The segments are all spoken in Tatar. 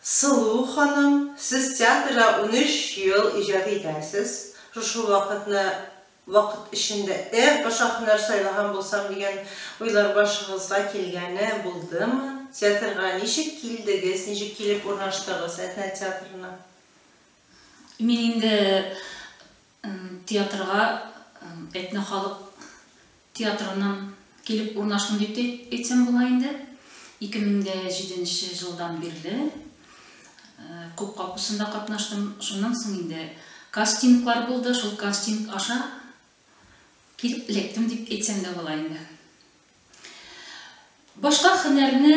Сылу ханым, сез театрда унөч ел иҗат итәсез. Шушы вакытны вакыт эчендә эх, башка һөнәр сайлаган булсам дигән уйлар башыгызга килгәне булдымы? Театрга ничек килдегез, ничек килеп урнаштыгыз Әтнә театрына? Мин инде Театрга Әтнә халык театрыннан килеп урнаштым дип тә әйтсәм була инде. 2007 нче елдан бирле Күк капусында катнаштым. Шуннан соң инде кастинглар булды, шул кастинг аша килеп эләктем дип әйтсәм дә була инде. Башка хөнәрне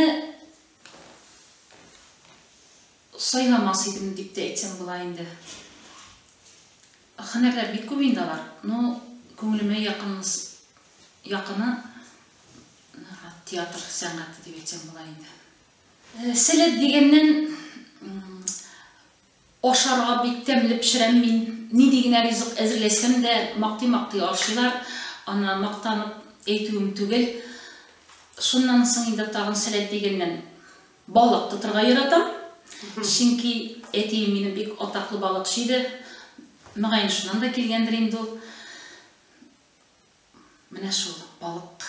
сайламас идем дип тә әйтсәм була инде. Хөнәрләр бик күп инде алар. Ну, күңелемә якынмыс якыны театр сәнгате дип әйтсәм була инде. Э, сәләт дигәннән Ашарга бик тәмле пешерәм мин. Нинди генә ризык әзерләсәм дә, мактый-мактый ашыйлар. Аны мактанып әйтүем түгел. Шуннан соң инде тагын сәләт дигәннән, балык тотырга яратам. Чөнки әтием минем бик атаклы балыкчы иде. Мөгаен, шуннан да килгәндер инде ул. Менә шул балык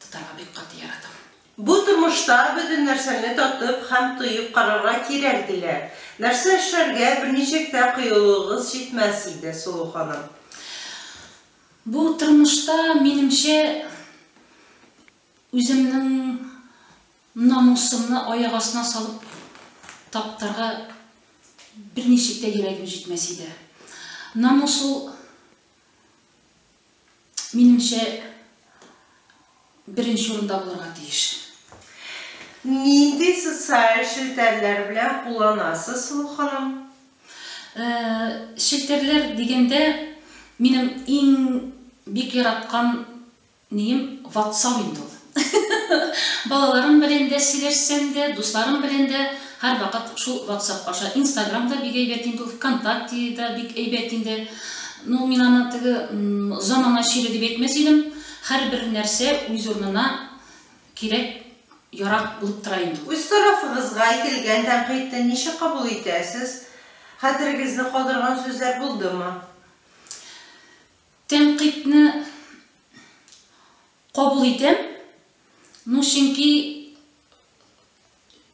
тотарга бик каты яратам. Бу тормышта бөтен нәрсәне татып һәм тоеп карарга кирәк, диләр. Нәрсә эшләргә, берничек тә кыюлыгыгыз җитмәс иде, Сылу ханым. Бу тормышта, минемчә, үземнең намусымны аяк астына салып таптарга берничек тә йөрәгем җитмәс иде. Намус ул Минемчә, беренче урында булырга тиеш. Нинди социаль челтәрләр белән кулланасыз, Сылу ханым? Э, челтәрләр дигәндә, минем иң бик яраткан нием WhatsApp инде ул. Балаларым белән дә сөйләшсәм дә, дусларым белән дә һәрвакыт шул ватсап аша. Инстаграм да бик әйбәт инде ул, Вконтакте да бик әйбәт инде. Ну, мин аны теге замана чире дип әйтмәс идем. Һәрбер нәрсә үз урынына кирәк, ярак булып тора инде ул. Үз тарафыгызга әйтелгән тәнкыйтьне ничек кабул итәсез? Хәтерегезне калдырган сүзләр булдымы? Тәнкыйтьне. Кабул итәм, ну чөнки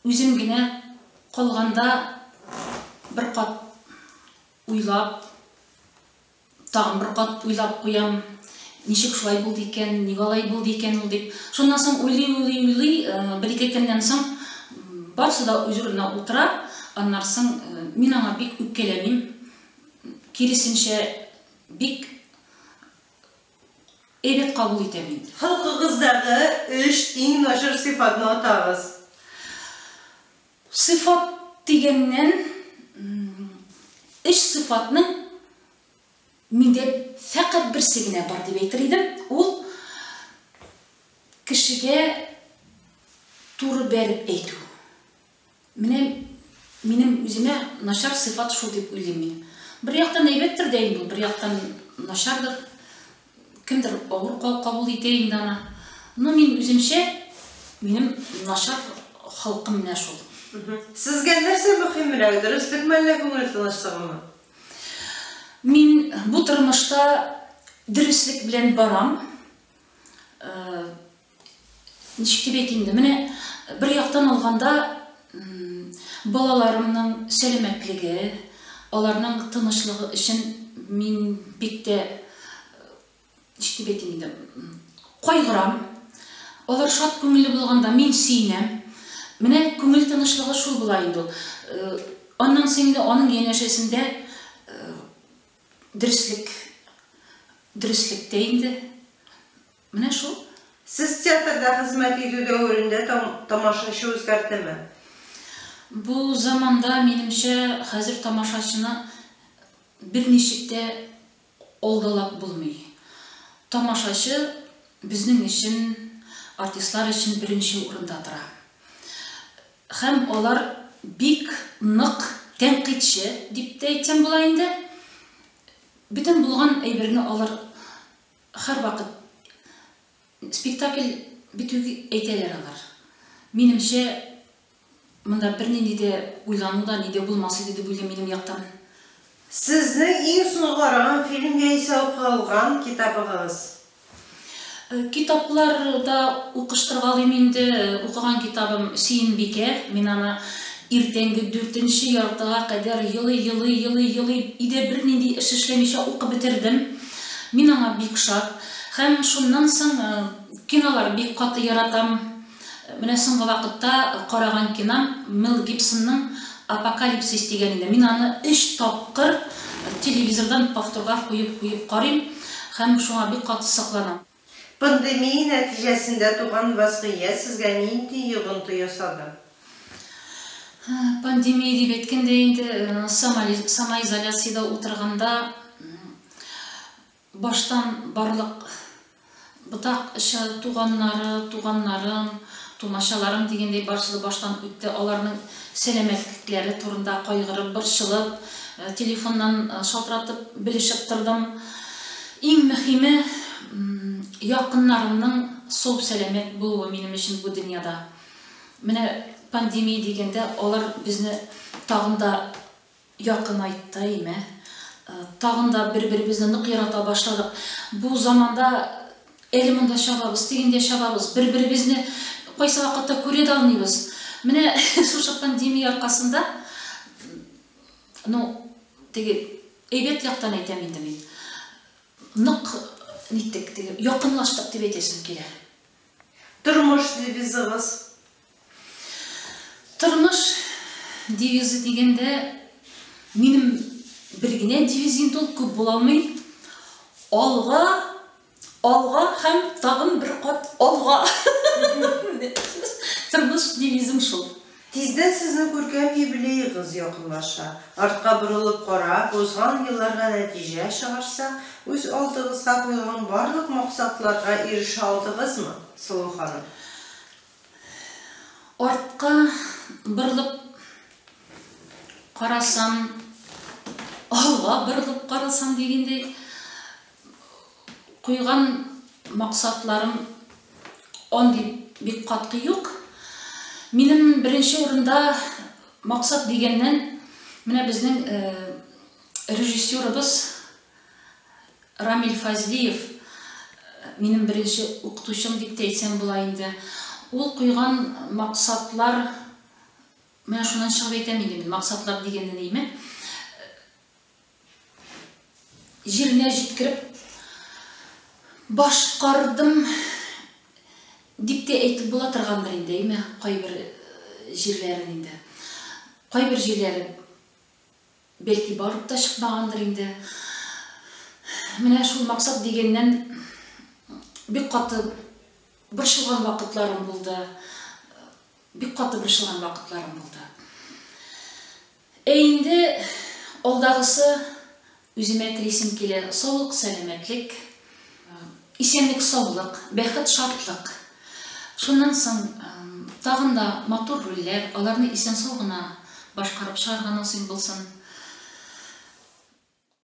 үзем генә калганда бер кат уйлап, тагын бер кат уйлап куям, ничек шулай булды икән, ник алай булды икән ул дип. Шуннан соң уйлый, уйлый, уйлый, э, бер ике көннән соң барысы да үз урынына утыра, аннан соң э, мин аңа бик үпкәләмим, киресенчә бик Әйбәт кабул итәм мин. Халкыгыздагы өч иң начар сыйфатны атагыз. Сыйфат дигәннән, өч сыйфатның миндә фәкать берсе генә бар дип әйтер идем, ул кешегә туры бәреп әйтү. Менә минем үземә начар сыйфат шул дип уйлыйм мин. Бер яктан әйбәттер дә инде, бер яктан начардыр. Кемдер авыр кабул итә инде аны. Но мин үземчә минем начар халкым менә шул. Сезгә нәрсә мөхимрәк, дөреслек мәллә күңел тынычлыгымы? Мин бу тормышта дөреслек белән барам. Э, ничек дип әйтим инде, менә бер яктан алганда, балаларымның сәламәтлеге, аларның тынычлыгы өчен мин бик тә, ничек дип әйтим инде, кайгырам. Алар шат күңелле булганда, мин сөенәм. Менә күңел тынычлыгы шул була инде ул. Аннан соң инде аның янәшәсендә дөреслек, дөреслек тә инде. Менә шул. Сез театрда хезмәт итү дәверендә тамашачы үзгәрдеме? Бу заманда, минемчә, хәзер тамашачыны берничек тә алдалап булмый. Тамашачы безнең өчен, артистлар өчен беренче урында тора. Һәм алар бик нык тәнкыйтьче дип тә әйтсәм була инде. Бөтен булган әйберне алар Һәрвакыт спектакль бетү дип әйтәләр алар. Минемчә, монда бернинди дә уйлану да, ни дә булмас иде дип уйлыйм минем яктан. Сезнең иң соңгы караган фильм яисә укый алган китабыгыз? Китаплар да укыштыргалыйм инде. Укыган китабым Сөембикә. Мин аны иртәнге дүртенче яртыга кадәр елый-елый, елый-елый, өйдә бернинди эш эшләмичә укып бетердем. Мин аңа бик шат. Һәм шуннан соң кинолар бик каты яратам. Менә соңгы вакытта караган кином Мел Гибсонның Апокалипсис дигән иде. Мин аны өч тапкыр телевизордан повторга куеп-куеп карыйм һәм шуңа бик каты сокланам. Пандемия нәтиҗәсендә туган вазгыять сезгә нинди йогынты ясады? Пандемия дип әйткәндә инде самоизоляциядә утырганда баштан барлык ботак эше туганнары, туганнарым, тумачаларым дигәндәй барысы да баштан үтте. Аларның сәламәтлекләре турында кайгырып, борчылып, телефоннан шалтыратып белешеп тордым. Иң мөхиме, якыннарымның сау-сәламәт булуы минем өчен бу дөньяда. Менә пандемия дигәндә, алар безне тагын да якынайтты, әйме? Тагын да бер-беребезне нык ярата башладык. Бу заманда әле монда чабабыз, тегендә чабабыз, бер-беребезне кайсы вакытта күрә дә алмыйбыз. Менә шушы пандемия аркасында, ну, Теге, әйбәт яктан әйтәм инде мин. Нык ниттек, теге, якынлаштык дип әйтәсем килә. Тормыш девизыгыз? Тормыш девизы дигәндә, минем бер генә девиз инде ул, күп була алмый. Алга Алга һәм тагын бер кат алга! Тормыш девизым шул. Тиздән сезнең күркәм юбилеегыз якынлаша. Артка борылып карап, узган елларга нәтиҗә чыгарсак, үз алдыгызга куйган барлык максатларга ирешә алдыгызмы, Сылу ханым? Артка борылып карасам, алга борылып карасам дигәндәй, Куйган максатларым андый бик катгый юк. Минем беренче урында максат дигәннән, менә безнең э, режиссерыбыз Рамиль Фазлиев, э, минем беренче укытучым дип тә әйтсәм була инде. Ул куйган максатлар Менә шуннан чыгып әйтәм инде мин, максатлар дигәнне нейме? җиренә җиткереп башкардым дип тә әйтеп була торгандыр инде, әйме, кайбер э, җирләрен инде. Кайбер җирләре бәлки барып та чыкмагандыр инде. Менә шул максат дигәннән бик каты борчылган вакытларым булды. Бик каты борчылган вакытларым булды. Ә инде алдагысы үземә телисем килә, саулык-сәламәтлек, исәнлек-саулык, бәхет-шатлык. Шуннан соң тагын да матур рольләр, аларны исән-сау гына башкарып чыгарга насыйп булсын.